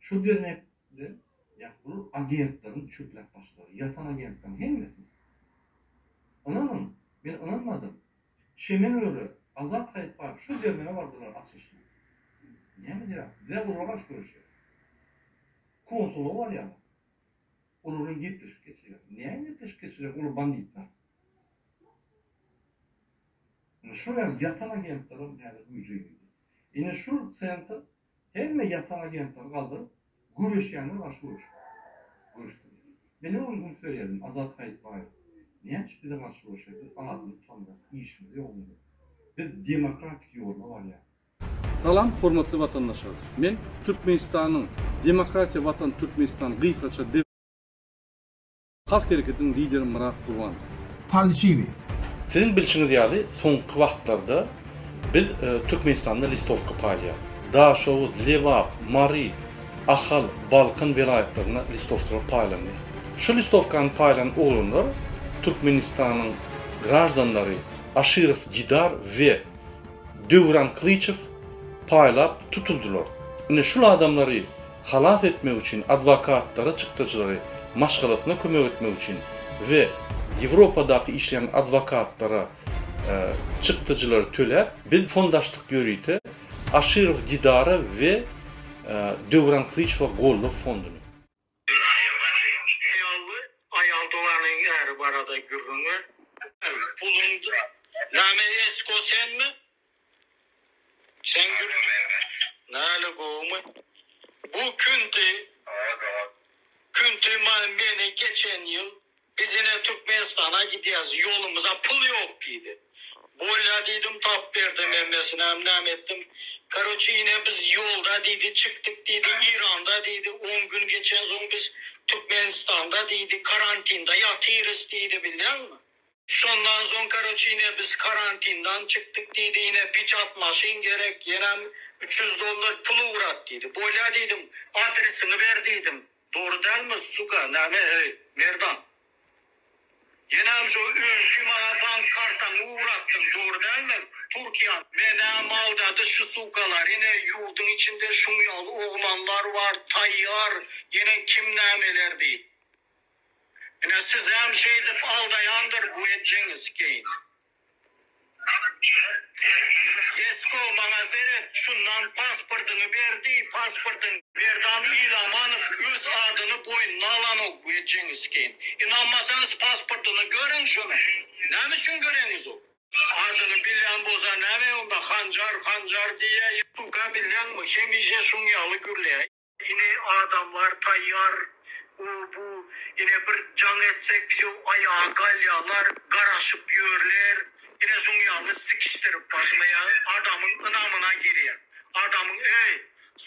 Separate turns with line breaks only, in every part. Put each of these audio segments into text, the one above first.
Şol dernekde ýa bul agentleriň çöplek başlary, ýatan agentleriň hemmesi. Ynanyň, men ynanmadym. Çemen öre, Azat Saýitbaýew şol dernege bardylar açylyşyna. Näme diýýär? Bizä olar garşy göreşýär. Konsullyga barýarlar. Olar bilen gepleşik geçirýärler. Näme gepleşik geçirýär olar banditler. Indi şol ýaly ýatan agentlerem häzir güýje girdi. Indi şul sentr Hemme ýasan agentleri galdyryp, göreşýänler garşy göreşip, göreşdiler. Meniň öň gün söýenim Azat Saýytbaýew näçe bize garşy göreşer, biz adyny tutandyr, işimiz ýogmy biziň? Biz demokratik ýolda barýas. Salam
hormatly watandaşlar. Men Türkmenistanyň Demokratiýa Watan Türkmenistan gysgaça. Halk Hereketiniň lideri Myrat Gurbanow. Falşiwi.
Siziň
bilşiňiz ýaly, soňky wagtlarda biz Türkmenistanda listowka paýlaýarys. Daşoguz, Lebap, Mary, Ahal, Balkan welaýatlarynda listowkalar paýlandy. Şu listowkany paýlan oglanlar Türkmenistanyň graždanlary Aşyrow Didar we Döwran Kylyçow paýlap tutuldylar. Ine şul adamlary halas etmek üçin adwokatlara çykdajylary maşgalasyna kömek etmek üçin we Ýewropadaky işleýän adwokatlara çykdajylary töläp, biz fondaşdyk ýörite Aşyrow Didara we Döwran Kylyçowa goldaw fonduny. Haýally aýal doganyň äri barada
gürrüň ber. Puluň näme esko senmi? Çeňňir näle gowumy? Bu Künti. Künti meni geçen ýyl biz ine Türkmenistana gidýäs ýolumyza pul ýok diýdi. Bolýa diýdim tap berdem hemmesinem näme etdim. Karoçi ine biz ýolda diýdi çykdyk diýdi Iranda diýdi on gün geçensoň biz Türkmenistanda diýdi karantinda ýatyrys diýdi bilýäňmi. Şondan soň karoçe ine biz karantindan çykdyk diýdi ine piçat maşyn gerek ýenem üç ýüz dollar pul ugrat diýdi bolýa diýdim adresiňi ber diýdim dogry dälmi suka näme heý merdan ýenem şo öňki maňa bank kartaňy ugratdyň dogry dälmi turkiýa menäm aldady şu sukalar ine ýurduň içinde şuň ýaly oglanlar bar taýýar ýene kim nämeler diýip Ine sizem şeýdip aldaýandyr bu ejeňiz keýn. Esko maňa seret şundan pasportyňy ber diý pasportyňy. Merdan Ilamanow öz adyny boýnuna alanok bu ejeňiz keýn. Ynanmasaňyz pasportyny görüň şunuň. Näme üçin göreňiz ol. Adyny bilýän bolsa näme onda hanjar hanjar diýýä. Suka bilýäňmi hemişe şuň ýaly gürleýä. Ine adamlar taýýar u bu ine bir jaň etsek wsýo aýaga galýalar garaşyp ýörler ine şuň ýaly sikişdirip başlaýar adamyň ynamyna girýär adamyň eý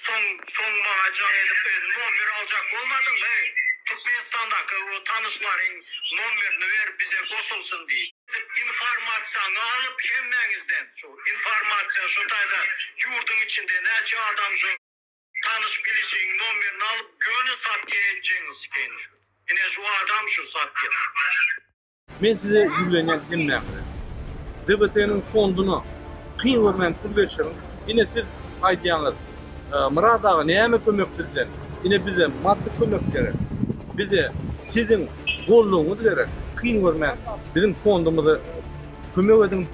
soň soň maňa jaň edip e nommer aljak bolmadyňmy eý türkmenistandaky o tanyşlaryň nommerini ber bize goşulsyn diý dip informasiýaňy alyp hemmäňizden şu informasiýa şu taýda ýurdyň içinde näçe adam şu. Tanyş bilişiň nomerini alyp göni satýa enjeňiz keýni şu. Ine şu adam şu satýa.
Men size ýüzlenýän hemmäňize. DBT-niň fondyna kyn görmän pul berişiň. Ine siz aýdýaňyz Myrat aga näme kömek bizden. Ine bize maddy kömek gerek. Bize siziň goldawyňyz gerek. Kyn görmän biziň fondumyza kömek ediň.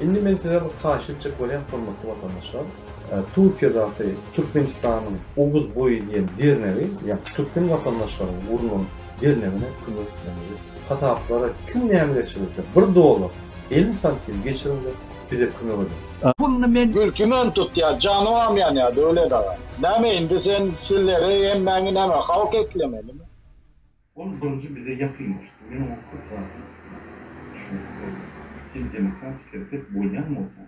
Indi
men size bir haýyşt etjek bolýan hormatly watandaşlar. Türkiýedäki Türkmenistanyň Oguz boýy diýen dernegi, ýagny türkmen watandaşlaryň gurnan dernegine kömek etmelidir. Kasaplara kim näme geçirdiyse bir dollar, elli santim geçiriň-de bize kömek ediň. Puluny men. Mülkümen
tutýa,
janybam ýanýa Döwlet aga. Näme indi sen sileri hemmäňi näme halk eklemelimi? Ol birinji
bize ýakynlaşdy. Men oňa köp zady düşündirip boldum. Sen demokratik hereket bolýan bolsaň,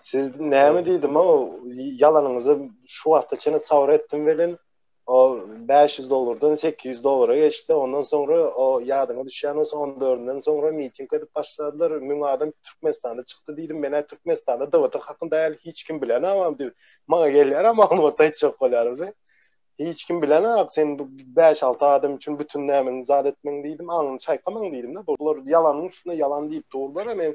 Siz näme diýdim o ýalanyňyzy şu wagta çenli sabr etdim welin o 500 dollardan 800 dollara geçdi. Ondan soňra o ýadyňa düşýän bolsa 14-den soňra miting edip başladylar. Müň adam Türkmenistanda çykdy diýdim. Men ä Türkmenistanda DBT hakynda äl hiç kim bilen amam diýip. Maňa gelýär ama maglumat aýtjak bolýardy. Hiç kim bilen ak sen 5-6 adam üçin bütün nämen zat etmeň diýdim. Aňyny çaýkamaň diýdim-de. Bular ýalanyň üstüne ýalan diýip durlar. Men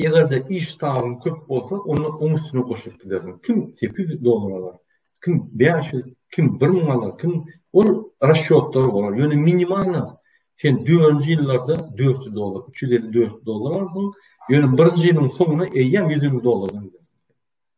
Eger-de
iş sanyň köp bolsa, onda oň üstüne goşup bilersiň. Kim sekiz ýüz dollar alar, kim bäş ýüz, kim bir müň alar, kim ol rasçýotlar bolar. Ýöne minimalna sen dördünji ýyllarda dört ýüz dollar, üç ýüz elli, dört ýüz dollar alarsyň. Ýöne birinji ýylyň soňuna eýýäm ýüz elli dollardan gidersiň.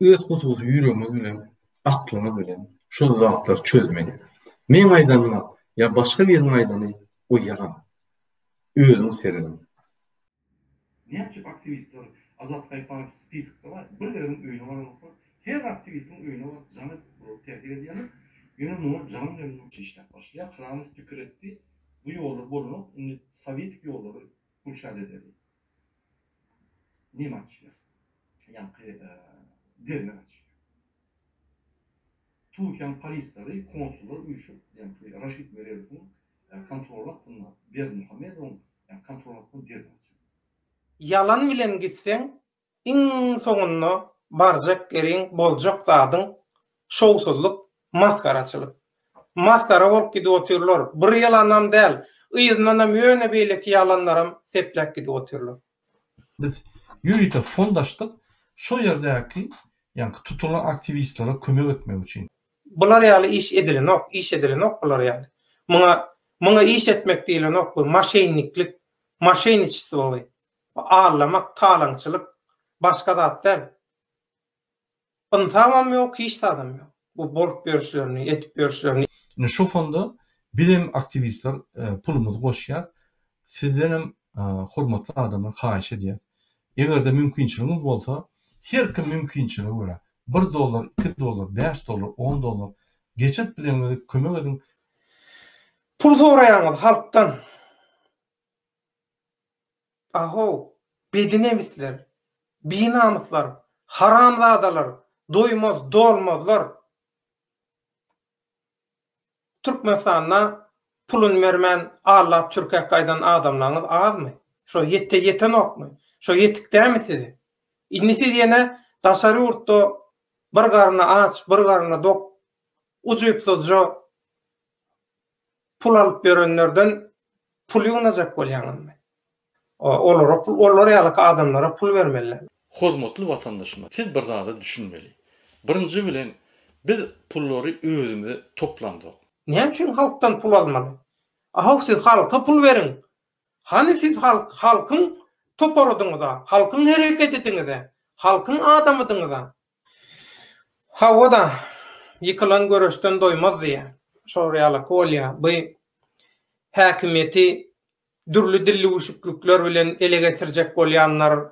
öz hususy ýüregimiz bilen, aklymyz bilen şol zatlary çözmeli. Meň aýdanyma ýa başga biriň aýdany o ýalan. Özüň seredin.
Näme üçin aktiwistler Azatlyk Aýypanow spiskde bar, bir biriň öýüne baranoklar, her aktiwistiň öýüne baryp jaň edip durlar, täsir edýärler, ýöne muňa jaň bilen işläp başlaýar, Hramow pikir etdi, bu ýollar bolanok, indi sowetiki ýollary gülşat edeli. Neme açýar? Ýaňky derňew açýar. Türkiýäniň polisleri, konsullar üýşüp, ýaňky Raşid Meredowyň kontroly astynda Berdimuhamedowyň kontroly astynda derňew açýar. Ýalan
bilen gitseň, Iň soňunda barjak ýeriň, boljak zadyň şowsuzlyk, masgaraçylyk. Masgara bolup gidip otyrlar. Bir ýalanam däl, yzyndanam ýöne beýleki ýalanlaram sepläp gidip otyrlar. Biz
ýörite fond açdyk, şo ýerdäki, ýaňky tutulan aktiwistlere kömek etmek üçin. Bular ýaly iş
edilenok, iş edilenok bular ýaly. Muňa, muňa iş etmek diýlenok, bu maşeýniklik, maşeýniçestvo bu. Bu allamak, talaňçylyk, başga zat däl. Ynsamam ýok, hiç zadam ýok. Bu bolup ýörüşlerini, edip ýörüşlerini. Indi şu fonda
bizem aktiwistler pulumyzy goşýas. Sizdenem hormatly adamlar haýyş edýäs. Egerde mümkinçiligiňiz bolsa, her kim mümkinçilige görä, bir dollar, iki dollar, bäş dollar, on dollar geçirip bileniňizi kömek ediň.
Pul soraýaňyz halkdan. Ahow, bedinemisler, binamyslar, haramzadalar, doýmaz, dolmazlar! Türkmenistanda puluny bermän allap çürkäp gaýdan adamlaryňyz azmy? Şo ýetde ýetenokmy? Şo ýetik dämi size? Indi siz ýene daşary ýurtda bir garny aç, bir garny dok, ujypsyzja, pul alyp ýörenlerden pul ýygnajak bolýaňyzmy? Olara pul, olar ýalyky adamlara pul bermeli. Hormatly
watandaşymyz, siz bir zada düşünmeli. Birinji bilen, biz pullary özümize toplamzok. Näme üçin halkdan
pul almaly? Ahow siz halka pul beriň! Hany siz halk, halkyň toparydyňyza, halkyň hereketidiňize, halkyň adamydyňyza? Hawa-da, ýykylan göreşden doýmaz diýýär. Şolar ýalaky bolýar. Bu häkimiýeti dürli dillüwüşiklikler bilen ele geçirjek bolýanlar,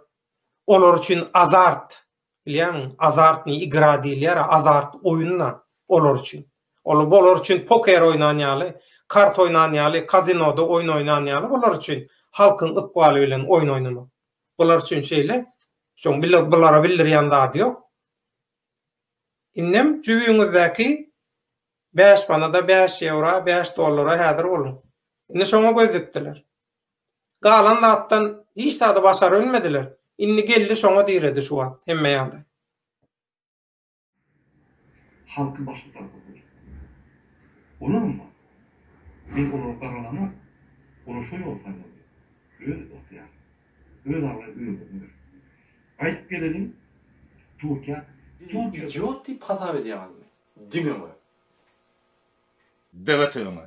olar üçin azart. Bilýäňmi, azartnyý igra diýilýär-ä, azart oýun-da olar üçin. Ol olar üçin poker oýnan ýaly, kart oýnan ýaly, kazinoda oýun oýnan ýaly olar üçin halkyň ykbaly bilen oýun oýnamak. Bular üçin şeýle. Şoň bile bulara bildirýän zady ýok. Indem jübüňizdäki bäş manada, bäş ýewra, bäş dollara häzir boluň. Indi şoňa göz dikdiler. Galan zatdan hiç zady başarybilmediler. Indi geldi şoňa diredi şu wagt hemme ýagdaý.
halky başga tarapa gönükdirýär. Olar onda, men olary garalanar, olar şo ýoly saýlar diýip, öz ygtyýary, öz abraýy özlerine berip goýýar. Gaýdyp geleliň Türkiýä. Bizi idiot
diýip hasap edýäňizmi? Diňe we.
Döwet öňe.